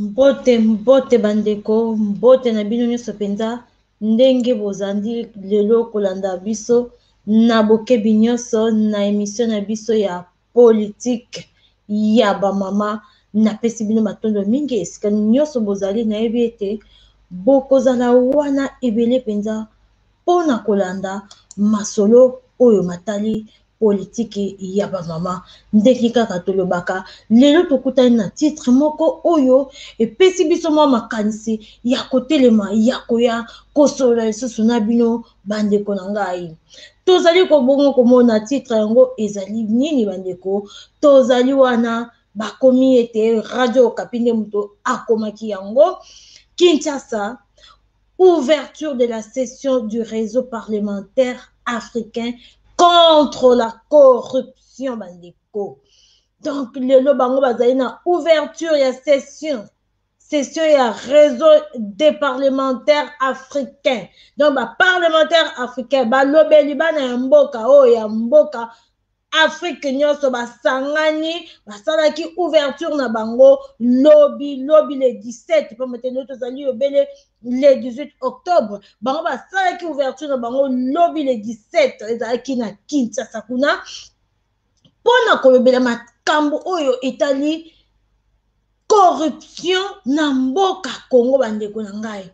Mbote mbote ba ndeko, mbote na bino nionso penza, ndenge bozandi lelo kolanda biso na bokebi nionso na emission na biso ya politique ya ba mama, napesi bino matondo mingi esika nionso bozali, nayebi ete bokozala wana ebele penza pona kolanda masolo oyo matali. Politiki ya ba mama ndenge kaka tolobaka lelo tokutani na titre moko oyo epesi biso mwa makanisi ya kotelema ya koya kosolola lisusu na bino bandeko na ngai tozali kobongo komona titre yango ezali nini bandeko tozali wana bakomi ete radio okapi nde moto akomaki yango kinshasa Ouverture de la session du réseau parlementaire africain contre la corruption bandeko. Donc lelo bango bazali na ouverture ya session session ya réseau des parlementaires africains donc baparlementaire africain balobeli bana ya mboka oyo ya mboka Afrique nyonso basangani basalaki ouverture na bango lobi lobi le 17 mpamba te nde tozali obele le 18 octobre bango basalaki ouverture na bango lobi le 17 ezalaki na kinshasa kuna mpo na kolobela makambo oyo etali corruption na mboka congo bandeko na ngai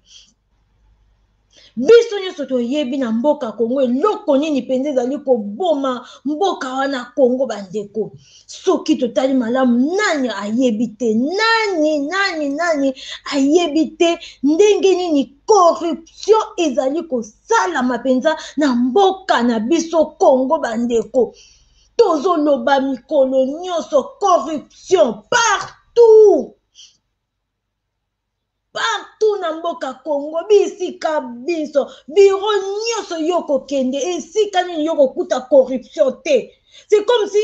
biso nyonso toyebi na mboka congo eloko nini mpenza ezali koboma mboka wana congo bandeko soki totali malamu nani ayebi te nani nani nani ayebi te ndenge nini corruption ezali kosalama mpenza na mboka na biso congo bandeko tozoloba mikolo nyonso corruption partout partout na mboka congo bisika binso biro nyonso yo kokende esika nini yo kokuta corruption te c'est comme si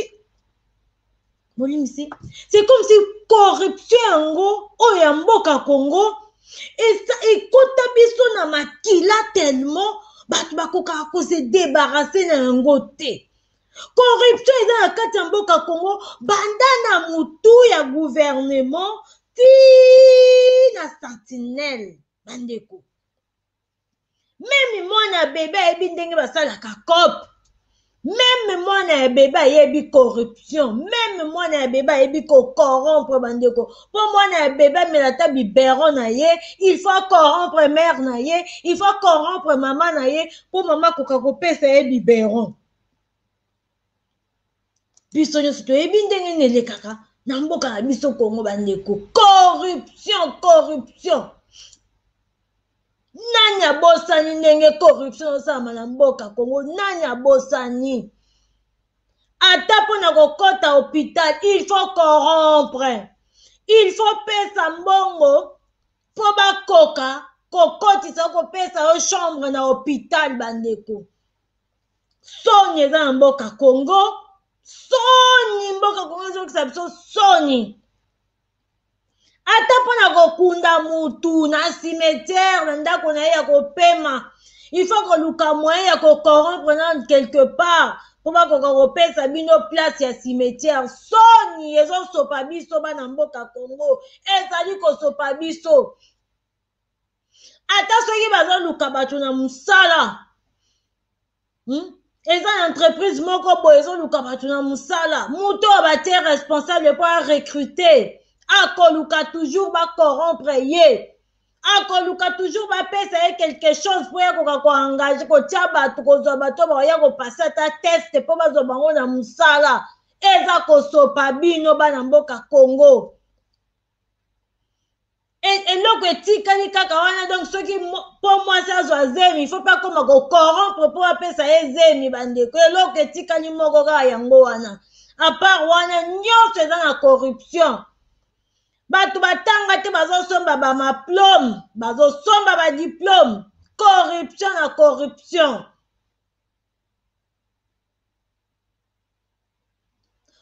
bolimisi c'est comme si corruption yango oyo ya mboka congo ekota biso na makila tellement bato bakokaka kose debarase na yango te corruption eza na kati ya mboka congo banda na motu ya gouvernement ti na sentinelle bandeko meme mwana ya bebe ayebi ndenge basalaka cop meme mwana ya bebe ayebi corruption meme mwana ya bebe ayebi kokorompre bandeko mpo mwana ya bebe amela ata bibero na ye il faut acorrompre mare na ye il faut acorrompre mama na ye mpo mama akoka kopesa ye bibero biso nyonso toyebi ndenge nini elekaka na mboka na biso kongo bandeko corruption corruption nani abosani ndenge corruption osalama na mboka congo nani abosani ata mpo na kokɔta hôpital il faut corrompre il faut pesa mbongo mpo bakoka kokɔtisa kopesa yo chambre na hôpital bandeko soni eza na mboka congo soni mboka congo ezokisa biso soni ata mpo na kokunda mutu na cimetière na ndako na ye ya kopema il faut koluka moyen ya kocorrompre na quelque part mpo bakoka kopesa bino place ya cimetière soni ezosopa biso bana mboka congo ezali kosopa biso ata soki bazoluka bato na mosala hmm? eza na entreprise moko boye ezoluka bato na mosala moto oyo batie responsable mpo arecrute akoluka toujours bacorompre ye akoluka toujours bapesa ye quelque chose mpo yakoka koengage kotya bato kozwa bato bakoya kopase ata test mpo bazwa bango na mosala eza kosopa bino bana mboka congo eloko etikali kaka wana donc soki mpo mwasi azwa zemi il faut mpe akoma kocorrompre mpo apesa ye zemi bandeko eloko etikali moko kaka yango wana apart wana nyonso eza na corruption bato batanga te bazosomba bamaplome bazosomba badiplome corruption na corruption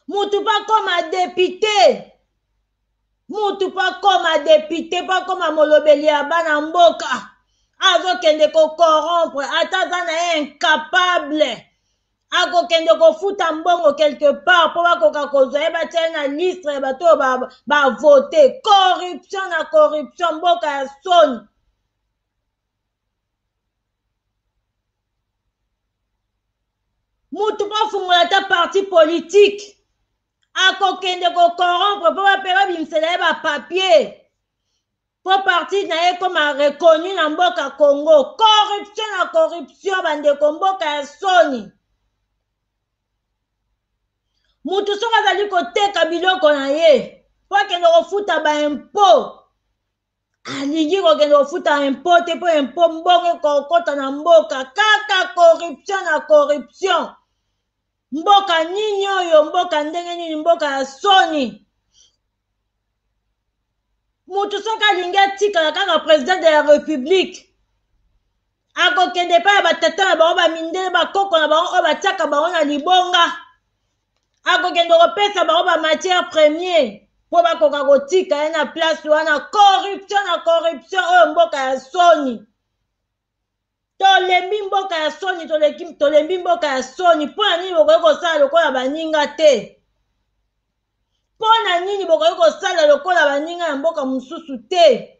mutu mpo akoma depute mutu mpo akoma depute mpo akoma molobeli ya bana mboka azokende kokorompre ata aza na ye incapable akokende kofuta mbongo quelque part mpo bakoka kozwa ye batya ye na listre ya bato oyo bavote corruption na corruption mboka ya soni mutu mpo afungola ata parti politike akokende kokorompre mpo bape babimisela ye bapapier mpo parti na ye ekoma reconnu na mboka congo corruption na corruption bandeko mboka ya soni mutu soki azali koteka biloko na ye mpo akende kofuta baimpo alingi kokende kofuta impo te mpo impo mbongo ekokota na mboka kaka corruption na corruption mboka nini oyo mboka ndenge nini mboka ya soni moto soki alingi atikala kaka president de la république akokende epai ya batata na bango bamindele bakoko na bango oyo batiaka bango na libonga akokende kopesa bango ba matière premier mpo bakoka kotika ye na place wana corruption na corruption oyo mboka ya soni tolembi mboka ya soni tolembi mboka ya soni mpo na nini bokoki kosala lokola baninga te mpo na nini bokoki kosala lokola baninga ya mboka mosusu te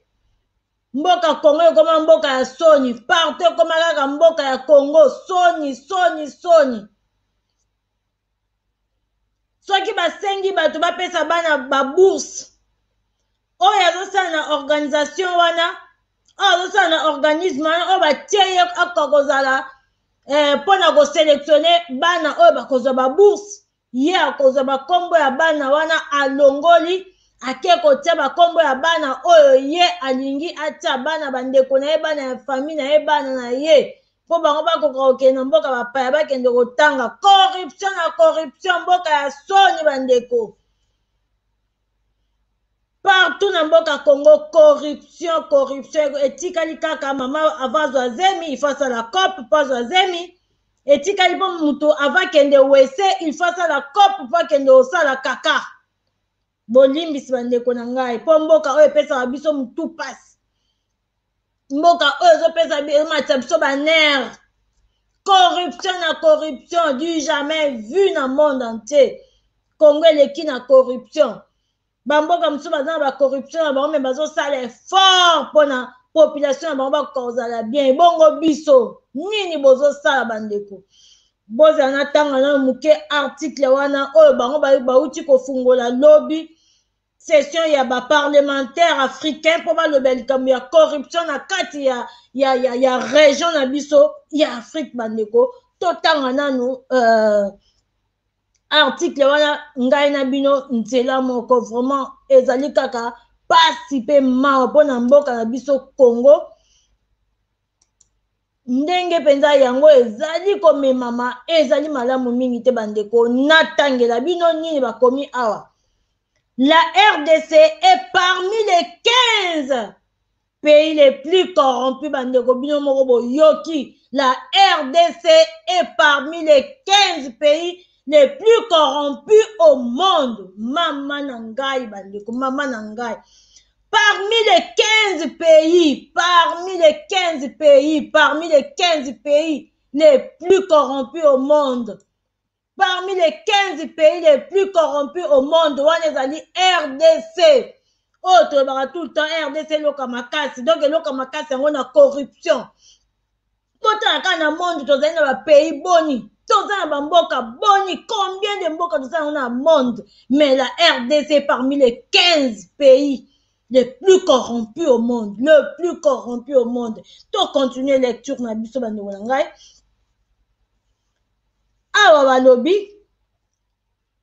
mboka kongo ekoma mboka ya soni partout ekoma kaka mboka ya kongo soni soni soni soki basengi bato bapesa bana babourse oyo azosala na organisation wana oyo azosala na organisme wana oyo batie ye akoka kozala eh, mpo na koselektione bana oyo bakozwa babourse ye akozwa bakombo ya bana wana alongoli ake kotya bakombo ya bana oyo ye alingi atya bana bandeko na ye bana ya fami na ye bana na ye mpo bango bakoka kokende na mboka bapaya bakende kotanga corruption na corruption mboka ya soni bandeko partout na mboka congo corruption corruption etikali kaka mama ava azwa zemi ifo asala cope mpo azwa zemi etikali mpo moto ava kende wese ifo asala cope mpo akende osala kaka bolimbisi bandeko na ngai mpo mboka oyo epesaka biso motu mpasi mboka oyo ezopesa ematisa biso banere corruption na corruption du jamais vu na monde entier congo eleki na corruption bamboka mosusu baza na bacorruption na bango me bazosala effort mpona population na bango bakoka kozala bien ebongo biso nini bozosala bandeko bozala na ntango nayo moke article wana oyo bango bauti kofungola lobi session ya ba parlementaire africain mpo balobela likambo ya corruption na kati ya, ya, ya, ya region na biso ya afrique bandeko totanga nanu uh, article wana ngai na bino nzela moko vraiment ezali kaka pasi mpe mawa mpo na mboka na biso congo ndenge mpenza yango ezali komemama ezali malamu mingi te bandeko natangela bino nini bakomi awa la rdc est parmi les 15 pays les plus corrompus bandeko bino moko boyoki la rdc est parmi les 15 pays les plus corrompus au monde mama na ngai bandeko mama na ngai Parmi les 15 pays, parmi les 15 pays, parmi les 15 pays les plus corrompus au monde, parmi les 15 pays les plus corrompus au monde, wana ezali RDC. oyo oh, tolobaka tout le temps rdc eloka makasi donc eloka makasi yango na corruption totala kaka na monde tozali na bapays boni toza na bamboka boni combien de mboka toza yango na monde mais la rdc parmi les 15 pays le plus corrompu au monde le plus corrompu au monde to continue lecture na biso bandeko na ngai awa balobi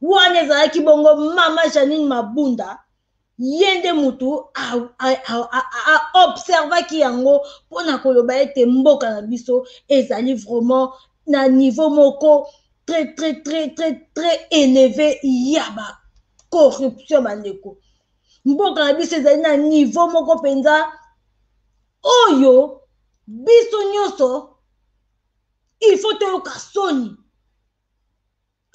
wana ezalaki bongo mama janine mabunda ye nde motu aobservaki yango mpo na koloba ete mboka na biso ezali vraiment na niveau moko très très très très très éleve ya ba corruption bandeko mboka na biso ezali na niveau moko mpenza oyo biso nyonso il faut toyoka soni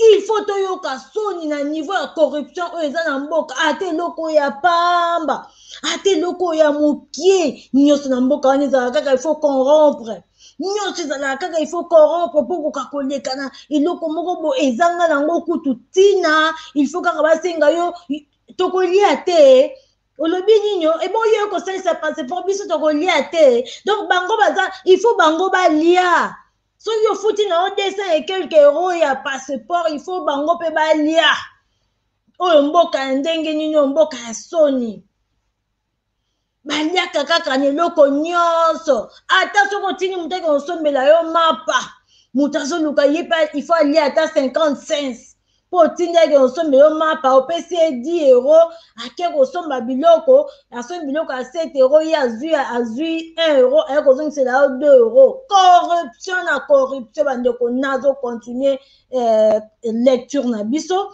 Il faut toyoka soni na niveau ya corruption oyo eza na mboka ata eloko ya pamba ata eloko ya mokie nyonso na mboka wana ezala kaka il faut corrompre nyonso ezalaka kaka il faut corrompre mpo koka kolekana eloko moko bo ezanga nango kutu ntina il faut kaka basenga yo tokolia te olobi nini ebongo yo ekosalisa passeport biso tokolia te donc bango baza il faut bango balia soki ofuti na yo 200 et quelque euro ya passeport il faut bango mpe balia oyo mboka ya ndenge nini oyo mboka ya soni baliaka kaka na eloko nyonso ata soki otindi moto ake osombela yo mapa moto azoluka ye mpe il faut alia ata 50 cents mpo otindi ake kosomba yo mapa opesi ye 10 euro ake kosomba biloko asombi biloko ya 7 euro ye azwi azwi 1 euro aye kozongisela yo 2 euro corruption na corruption bandeko nazo continue eh, lecture na biso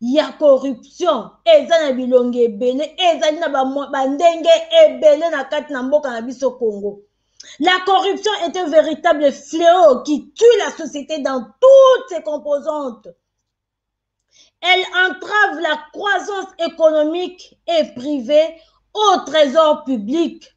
ya corruption eza na bilongi ebele ezali na bandenge ebele na kati na mboka na biso congo la corruption est un véritable fléau qui tue la société dans toutes ses composantes elle entrave la croissance économique et privée au trésor public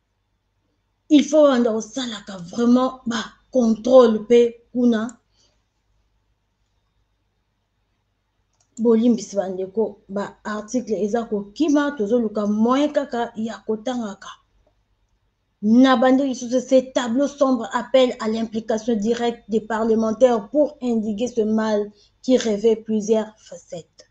il faut obanda kosalaka vraiment ba controle mpe kuna bolimbisi bandeko ba article eza kokima tozoluka moyen kaka ya kotangaka na bande lisusu se tableau sombre appel à l'implication directe des parlementaires pour indiquer ce mal qui revêt plusieurs facettes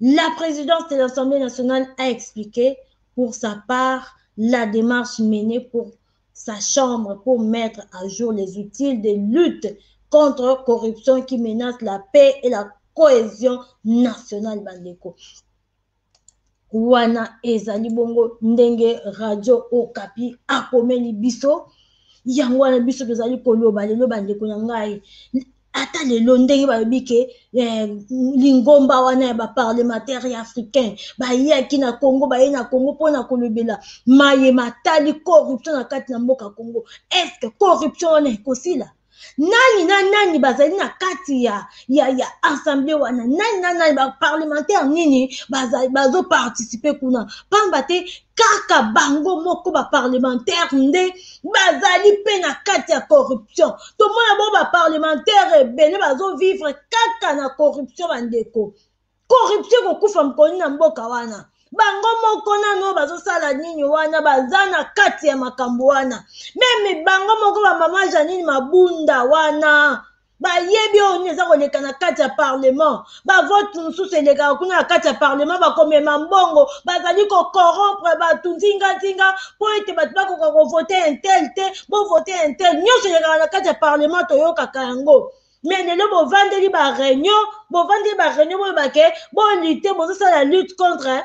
La présidence de l'Assemblée nationale a expliqué pour sa part la démarche menée pour sa chambre pour mettre à jour les outils de lutte contre corruption qui menace la paix et la cohésion nationale bandeko wana ezali bongo ndenge radio okapi akomeli biso yango wana biso tozali koloba lelo bandeko na ngai ata lelo ndenge balobi ke eh, lingomba wana ya baparlementaire ya africain bayaki na congo baye na congo mpo na kolobela maye matali corruption na kati na mboka congo estce corruption wana ekosila nani na nani bazali na kati ya, ya, ya assemble wana nani na nani baparlementaire nini bazoparticipe kuna mpamba te kaka bango moko baparlementaire nde bazali mpe na kati ya corruption tomona bango baparlementaire ebele bazovivre kaka na corruption bandeko corruption ekokufa mokoni na mboka wana bango moko nano bazosala nini wana baza na kati ya makambo wana meme bango moko bamama janine mabunda wana bayebi oyo nini eza koleka na kati ya parlement bavote mosusu elekaka kuna na kati ya parlement bakomema mbongo bazali kokorompre bato nzinganzinga mpo ete bato bakoka kovote intel te bovote intel nyonso elekaka na kati ya parlement toyokaka yango me lelo bovandeli bareunion bovandeli bareunion boyebake bolite bozosala lutte contre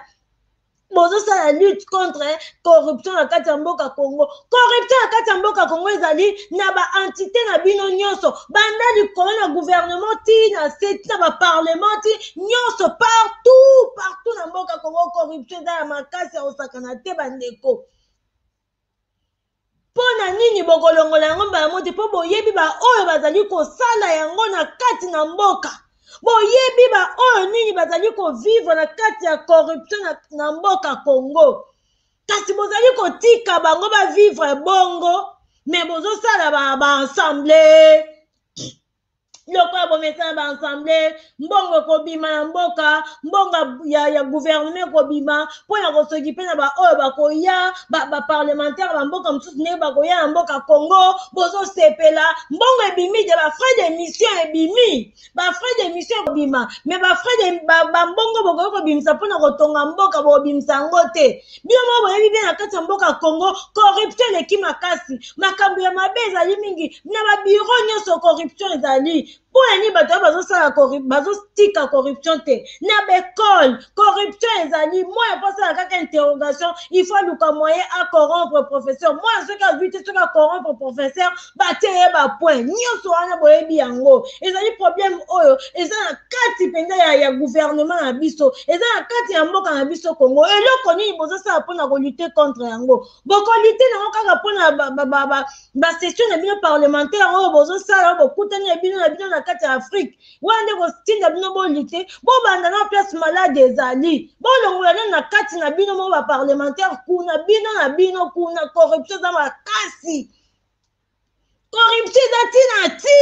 bozosala lutte contre corruption na kati ya mboka congo corruption na kati ya mboka congo ezali na baentité na bino nyonso banda likolo na gouvernement ti na se ti na baparlement ti nyonso partout partout na mboka congo corruption eza ya makasi ya kosakana te bandeko Mpo na nini bokolongola yango mbala moko te? Mpo boyebi baoyo bazali kosala yango na kati na mboka, boyebi baoyo nini bazali kovivre na kati ya corruption na, na mboka Congo. Kasi bozali kotika bango bavivre bongo, me bozosala ba, ba ensemble lokola bomesana ba ensemble mbongo ekobima na mboka mbongo ya, ya guvernema ekobima mpo na kosoki mpe na baoyo bakoya baparlementaire ba bamboka mosusu ndenge bakoya na mboka congo bozosepela mbongo ebimi te bafrais de mission ebimi bafrais de mission ekobima me bafrais de bambongo bokoki kobimisa mpo na kotonga mboka bokobimisa yango te bino moko boyebi bien na kati ya mboka congo corruption eleki makasi makambo ya mabe ezali mingi na babiro nyonso corruption ezali mpo na nini bato oyo bazotika corruption te na baekole corruption ezali mwana mpo asala kaka interrogation il faut aluka moyen acorompre professeur mwana soki azwi te soki acorompre professeur batie ye bapoint nyonso wana boyebi yango ezali problème oyo eza na kati mpenza ya, ya gouvernement na biso eza na kati ya mboka na biso congo eloko nini bozosala mpona kolute contre yango bokolite nango kaka mpona basession na bino parlementaire oyo bozosala oyo bokutani ya bino na bino na kati ya afrique wana nde kotinda bino bolite bobanda na place malade ezali bolongola nani na kati na bino mo baparlementaire kuna bino na bino kuna corruption eza makasi corruption eza ntina ti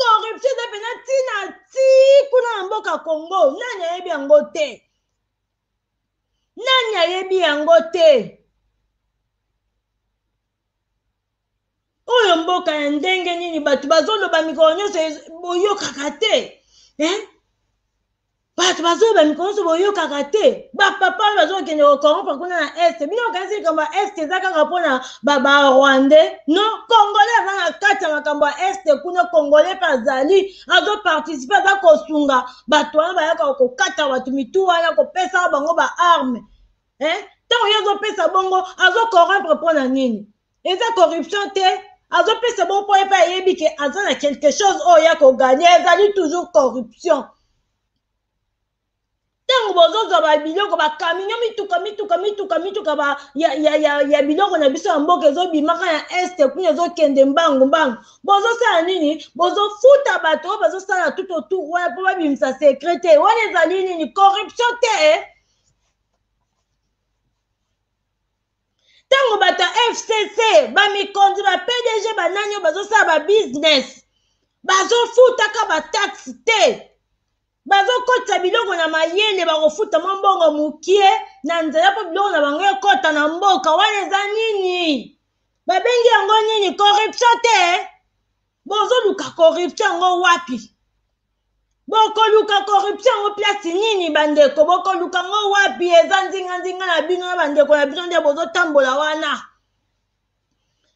corruption eza mpenza ntina ti kuna na mboka congo nani ayebi yango te nani ayebi yango te oyo mboka ya ndenge nini bato bazoloba mikolo nyonso boyokaka te eh? bato bazoyeba mikolo nyonso boyokaka te bapapa oyo bazokende kokorompa kuna na est bino okanisi likambo ya est eza kaka mpona barwandais no congolais aza na kati ya makambo ya est kuna congolais mpe azali azoparticipe aza kosunga bato wana bayaka kokata bato mitu wana kopesa bango baarme ntango eh? ye azopesa bongo azokorompre mpo na nini eza corruption te azopesa bango mpo epai ayebi ke aza na quelque chose oyo ya koganye ezali toujours corruption ntango bozozwa babiloko bakaminyo mituka mituka mituka mituka ba, ya, ya, ya, ya biloko na biso ya mboka ezobimaka ya este kuna ezokende mbangu mbangu bozosala nini bozofuta bato oyo bazosala tout autour wana mpo babimisa sekret te wana ezali nini corruption te eh? ntango bato ya fcc bamikonzi ba pdg banani oyo bazosala babusiness bazofutaka bataxe te bazokotisa biloko na mayele bakofuta mwa mbongo mokie na nzela mpo biloko na bango ekɔta na mboka wana eza nini babengi yango nini corruption te bozoluka corruption yango wapi bokoluka corruption yango place nini bandeko bokoluka yango wapi eza nzinganzinga na bino na bandeko na bino nde bozotambola wana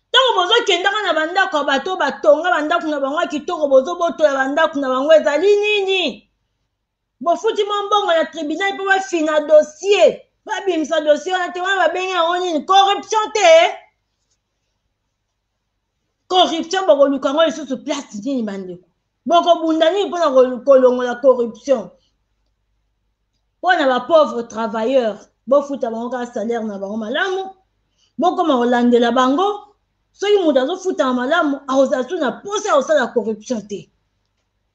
ntango bozokendaka na bandako ya bato batonga bandako na bango ya kitoko bozobotola bandako na bango ezali nini bofuti mwa mbongo na tribunal mpo bafina dossier babimisa dossier wana te wana babengi yango nini corruption te corruption bokoluka yango lisusu place nini bandeko bokobunda nini mpona kolongola corruption mpo na bapauvre travailleur bofuta bango kaka salaire na bango malamu bokoma kolandela bango soki moto azofutama malamu akozala tu na mposa ya kosala corruption te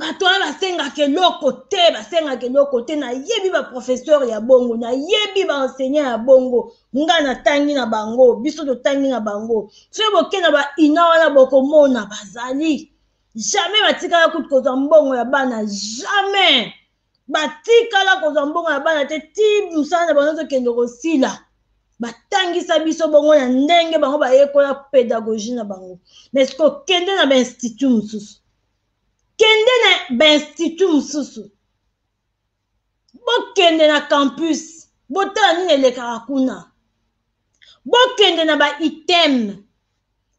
bato wana basengaka eloko te basengaka eloko te nayebi baprofesseur ya bongo nayebi baenseignant ya bongo nga natangi na bango biso totangi na bango soki boke na baina wana bokomona bazali jamais batikala kutu kozwa mbongo ya bana jamais batikala kozwa mbongo ya bana te ti mosala na bango ezokende kosila batangisa biso bongo na ndenge bango bayekola pedagogie na bango mais kokende na bainstitut mosusu kende na bainstitut mosusu bokende na campus botala nini elekaka kuna bokende na ba item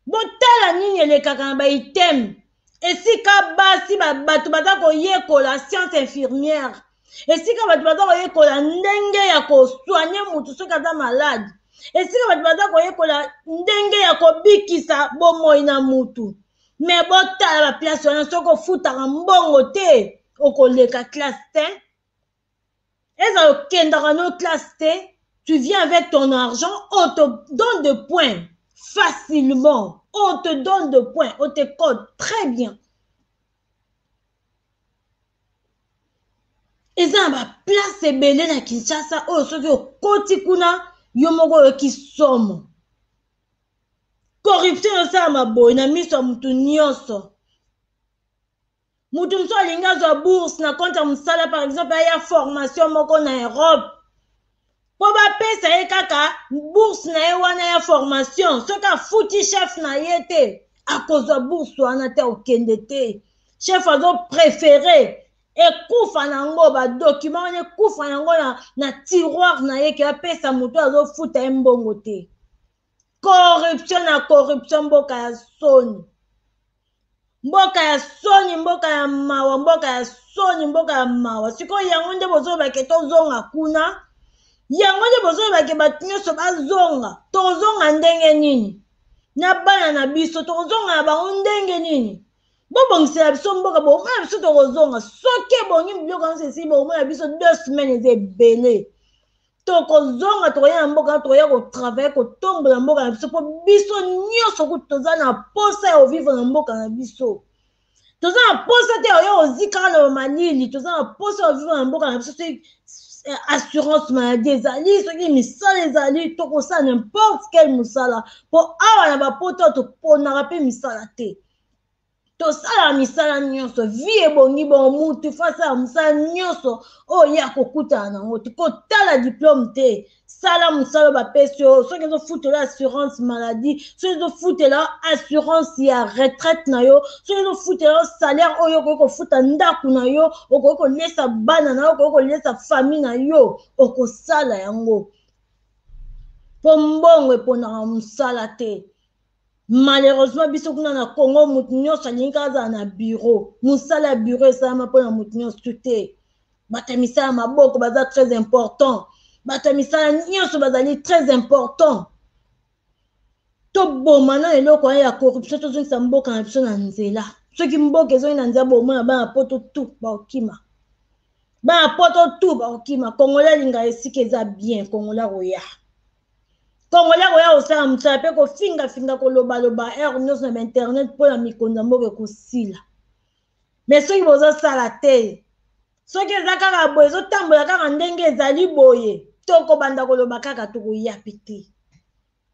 botala nini elekaka na ba item esika basi bato baza koyekola science infirmière esika bato baza koyekola ndenge ya kosoigne motu soki aza malade esika bato baza koyekola ndenge ya kobikisa bomoi na motu me botala baplace wana soki ofutaka mbongo te okoleka classe te ezala okendaka no classe te tu viens avec ton argent on te donne de points facilement on te donne de points on te code très bien eza na baplace ebele na kinshasa oyo soki okoti kuna yo moko oyoki somo corruption esalama boye na miso ya motu nyonso moto mosusu alingi azwa bourse na compte ya mosala par exemple aya formation moko na europe mpo bapesa ye kaka bourse na ye wana ya formation soki afuti chef na ye te akozwa bourse wana te okende te chef azoprefere ekufa na yango badokima wana ekufa na yango na, na tiroir na ye ke apesa moto azofuta ye mbongo te corruption na corruption mboka ya soni mboka ya soni mboka ya mawa mboka ya soni mboka ya mawa sikoyo yango nde bozoloba ke tozonga kuna yango nde bozoloba ke bato nyonso bazonga tozonga ndenge nini na bana na biso tokozonga na bango ndenge nini bobongisela biso mboka bomona biso tokozonga soki ebongi biloko nyonso esili bomona biso deux semaine eza ebele tokozonga tokoya na mboka tokoya kotravaille kotombola mboka na biso mpo biso nyonso kutu toza na mposa ya kovivre na mboka na biso toza na mposa te oyo ozikaka na bamalili toza na mposa ya kovivre na mboka na biso soki eh, assurance maladie ezali soki misala ezali tokosala nimporte quel mosala mpo awa na bapoto toponaka mpe misala te tosalaka misala nyonso vi ebongi bongo mutu fo asalaka mosala nyonso oyo ye akokutana na yango kotala diplome te sala mosala bapesi yo soki ezofutela assurance maladie soki ezofutela assurance ya retraite na yo soki ezofutela yo salaire oyo okoki kofuta ndako na yo okoki kolesa bana na yo okoki kolesa famille na yo okosala yango mpo mbongo eponaka mosala te malheureusement biso kuna na congo moto nyonso alingi kaka azala na bureau mosala ya bureau esalama mpona moto nyonso tu te bato ya misala maboko baza très important bato ya misala nyonso bazali très important toboma na eloko ya corruption tozongisa mboka na biso na nzela soki mboka ezongi na nzela bomona bana poto tu bakokima bana poto tu bakokima kongola alinga esika eza bien kongola koya congolais koya kosala mosala mpe kofingafinga kolobaloba heure nyonso na bainternet mpo na mikonzi ya mboka ekosila me soki bozosala te soki eza kaka boye ezotambola kaka ndenge ezali boye tokobanda koloba kaka tokoya mpe te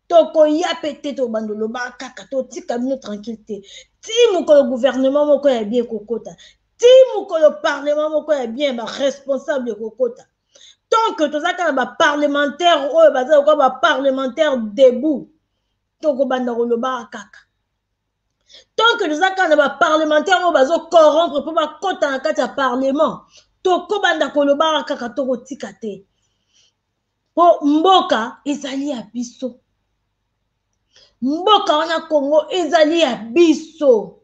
tokoya mpe te tokobanda oloba kaka totika bino tranquille te ti mokolo gouvernement moko ya bie kokota ti mokolo parlement moko ya bien baresponsable ekokota tant que toza kaka ba parlementaire oyo baza lokola ba parlementaire debout tokobanda kolobaka kaka tant que toza kaka na ba parlementaire oyo bazo corrompre mpo bakota na kati ya parlement tokobanda kolobaka kaka tokotika te mpo mboka ezali ya biso mboka wana congo ezali ya biso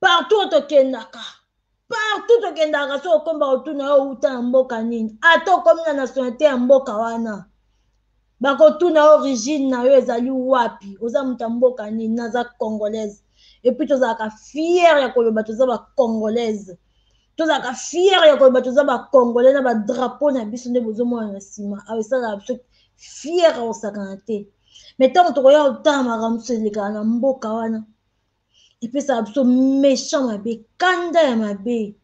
partout oyo tokendaka partout tokendaka soki okomba kotuna yo outa na mboka nini ata okomi na nationalité ya mboka wana bakotuna yo origine na yo ezali wapi oza moto ya mboka nini naza congolaise epuis tozalaka fiere ya koloba toza bacongolaise tozalaka fiere ya koloba toza bacongolais na badrapo na biso nde bozomona na nsima awa esalaka biso fiere ya kosakana te mai ntango tokoya kotala makambo mosusu elekaka na mboka wana epesaka biso méchant mabe kanda ya mabe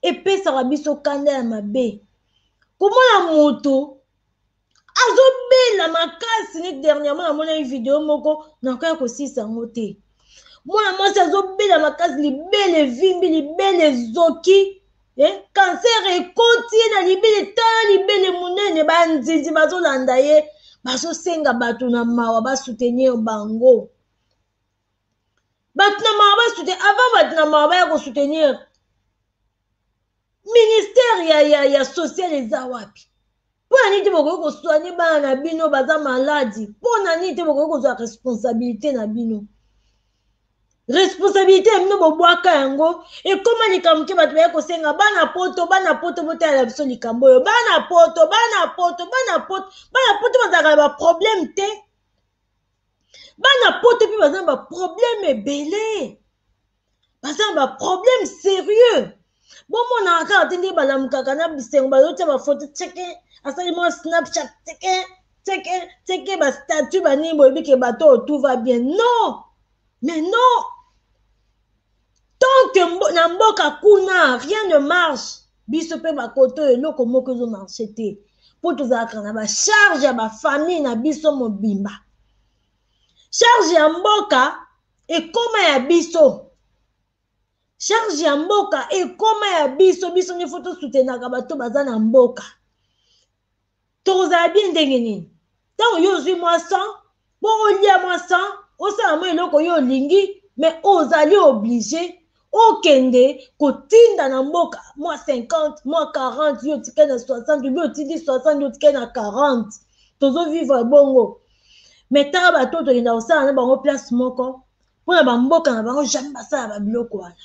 epesaka biso kanda ya mabe komona moto azobela makasi ne dernièrement namonaki video moko nakoya kosilisa yango te mwana mwasi azobela makasi libele evimbi libele ezoki eh? kanser ekoti ye na libele tala libele monene banzinzi bazolanda ye bazosenga bato na mawa basoutenir bango bato na mawa basoutenir avant bato na mawa baya kosoutenir ministère ya, ya, ya social eza wapi mpo na nini te bokoki koswanye bana na bino baza maladi mpo na nini te bokoki kozwa responsabilité na bino responsabilité ya bino bobwaka yango ekóma likambo te bato baye kosenga bana poto bana poto botalela biso likambo oyo bana poto bana poto bana poto bana poto bazalaka na baproblème te bana poto mpe baza na baproblème ebele baza na baproblème sérieux bomonaka kaka te nde balamukaka na bisengo bazotia bafoto teke asali mwa snapchat teke teke teke bastatut banini boyebi ke bato oyo tout va bien non mais non tant que mbo, na mboka kuna rien ne marche biso mpe bakoto oyo eloko moko ezo marche te mpo tozalaka na bacharge ya bafamille na biso mobimba charge ya mboka ekoma ya biso charge ya mboka ekoma ya biso biso nde fo tosutenaka bato baza na mboka tokozala bien ndenge nini ntango yo ozwi mwa san mpo olia mwa san osala mwa eloko yo olingi me ozali oblige okende kotinda na mboka mwa 50 mwa 40 yo otikali na 60 obi otindi 60 yo otikali na 40 tozovivre bongo me tala bato oyo tokenda kosala na bango place moko mpo na bamboka na bango jamai basala babiloko wana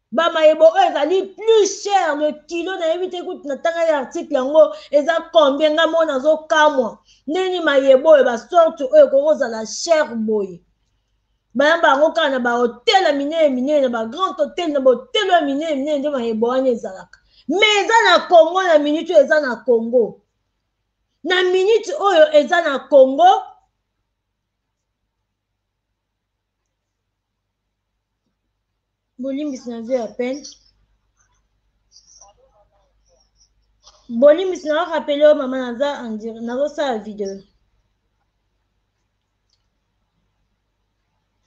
bamayebo oyo ezali plus cher le kilo nayebi te kutu natangaki article yango eza combien nga moko nazokamwa ndeni mayebo oyo basorte oyo ekoki kozala cher boye bayamba yango kaka na bahotel ya minene minene na bagrand hotel na bahotelo ya minene minene nde mayebo wana ezalaka me eza na congo na minute oyo eza na congo na minute oyo eza na congo bolimbisi na zwi ya pene bolimbisi na orapele oyo mama naza andire nazosala video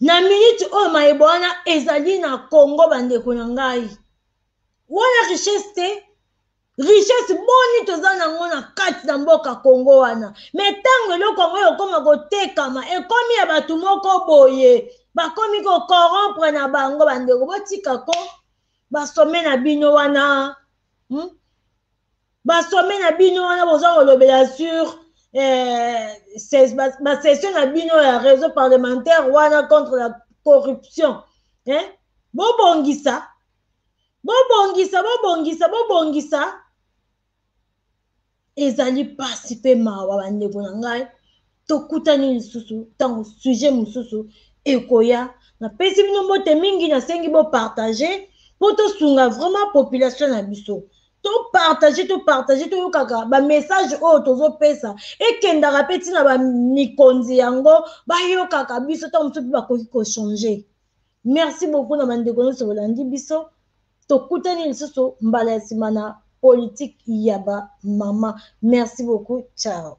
na miniti oyo mayebo wana ezali na congo bandeko na ngai wana richesse te richesse boni toza nango na kati na mboka kongo wana me ntango eloko yango ekokoma kotekama ekomi ya bato moko boye bakomi kokorompre na bango bandeko botika ko basome na bino wana hmm? basome na bino wana boza kolobela sur eh, basession na bino ya réseau parlementaire wana contre la corruption eh? bobongisa bobongisa bobongisa bobongisa ezali mpasi mpe mawa bandeko na ngai tokutani lisusu ntango sujet mosusu ekoya napesi bino mbote mingi nasengi bopartage mpo tosunga vraiment population na biso topartage topartage toyokaka bamessage oyo tozopesa ekendaka mpe ntina bamikonzi yango bayokaka biso ntango mosusu mpe bakoki kochange merci beaucoup na bandeko nyonso bolandi biso tokutani lisusu mbala ya nsima na politique ya bamama merci beaucoup ciao